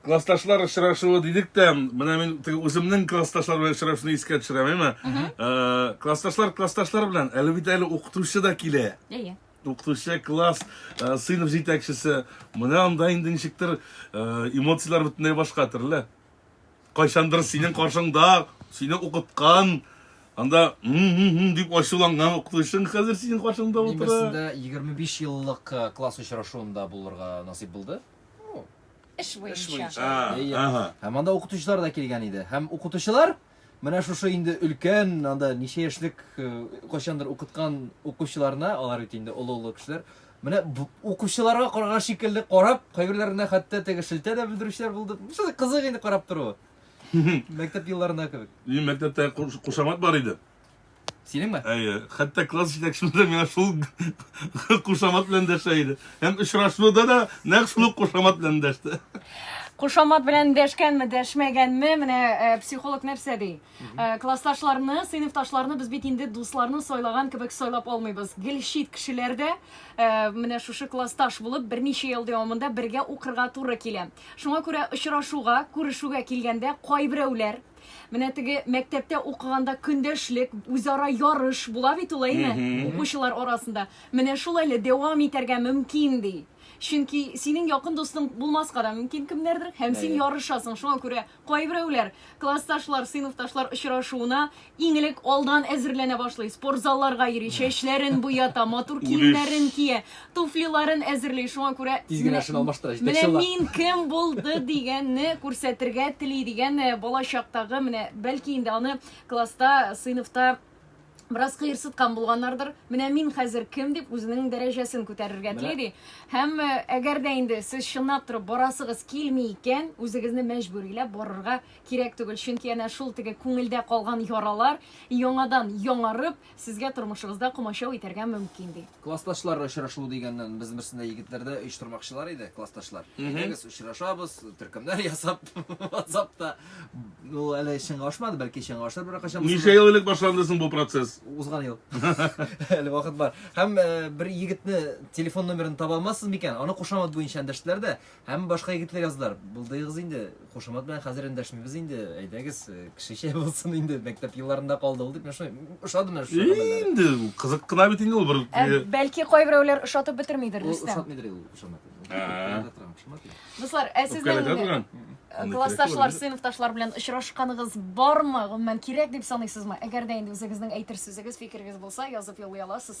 классташлар очрашуы дидек тә менә мин үземнең классташлар белән очрашуны искә төшерәм әйме э, классташлар классташлар белән әле бит әле укытучы да килә әйе укытучы класс э, сыйныф җитәкчесе менә анда инде ничектер э, эмоцияләр бөтенләй башка төрле Кайчандыр синең каршыңда сине укыткан Анда дип ачуланган укытучың хәзер синең каршыңда Мин утыра. берсендә 25 еллык э, класс очрашуында булырга насыйп булды. Эш буенча. Һәм анда укытучылар да килгән иде. Һәм укытучылар Менә шушы инде өлкән, анда ничә яшьлек э, кайчандыр укыткан укучыларына, алар бит инде олы-олы кешеләр. Менә укучыларга карга шикелле карап, кайберләренә хәтта теге шелтә дә белдерүчеләр булды. Шуны кызык инде карап тору. Мәктәп елларында кебек. Минем мәктәптә кушамат бар иде. Синеңме? Әйе. Хәтта класс җитәкчемез дә миңа шул кушамат белән дәшә иде. Һәм очрашуда да нәкъ шул ук кушамат белән дәште. Кушамат белән дәшкәнме, дәшмәгәнме, менә э, психолог нәрсә ди? Э, Классташларны, сыйныфташларны без бит инде дусларны сайлаган кебек сайлап алмыйбыз. Гел чит кешеләр дә э, менә шушы классташ булып берничә ел дәвамында бергә укырга туры килә. Шуңа күрә очрашуга, күрешүгә килгәндә кайберәүләр Менә теге мәктәптә укыганда көндәшлек, үзара ярыш була бит ул әйме, укучылар арасында. Менә шул әле дәвам итәргә мөмкин ди. Чөнки синең якын дустың булмаска да мөмкин кемнәрдер, һәм син ярышасың. Шуңа күрә кайберәүләр классташлар, сыйныфташлар очрашуына иң элек алдан әзерләнә башлый, спортзалларга йөри, чәчләрен буята, матур киемнәрен кия. туфлиларын әзерли, шуңа күрә Тиз генә шуны алмаштыра, җитәкче Менә була. мин кем булды дигәнне күрсәтергә тели дигән э, бала чактагы менә бәлки инде аны класста, сыйныфта бераз кыерсыткан булганнардыр. Менә мин хәзер кем дип үзенең дәрәҗәсен күтәрергә Менә. тели ди. Һәм э, әгәр дә инде сез чынлап торып барасыгыз килми икән, үзегезне мәҗбүриләп барырга кирәк түгел. Чөнки әнә шул теге күңелдә калган яралар яңадан яңарып, Сезгә тормышыгызда комачау итәргә мөмкин, ди. Классташлар очрашу дигәннән, без берсендә егетләрдә оештырмакчылар иде, классташлар. Әйдәгез, очрашабыз, төркемнәр ясап, WhatsApp-та. Ну, әле чынга ашмады, бәлки чынга ашыр бер качан. Ничә ел элек башланды соң бу процесс? Узган ел. Әле вакыт бар. Һәм э, бер егетне телефон номерын таба алмассыз микән? Аны кушамат буенча эндәштеләр дә, Һәм башка егетле язлар, булдыгыз инде, кушамат белән хәзер эндәшмибез инде, әйдәгез, э, кешечә булсын инде, мәктәп елларында калды ул дип, мен шуны ошады мен шушы гамәлләре. Инде ул кызык кына бит инде ул бер. Ә, э, бәлки кайберәүләр ошатып бетермидер, Ул Рөстәм. ошатмыйдыр ул ошамат. Ә. Дуслар, ә Үпкәләтә сезнең торган. э, классташлар, сыйныфташлар белән очрашканыгыз бармы? Гомумән кирәк дип саныйсызмы? Әгәр дә инде үзегезнең әйтер сүзегез, фикерегез булса, язып юллый аласыз.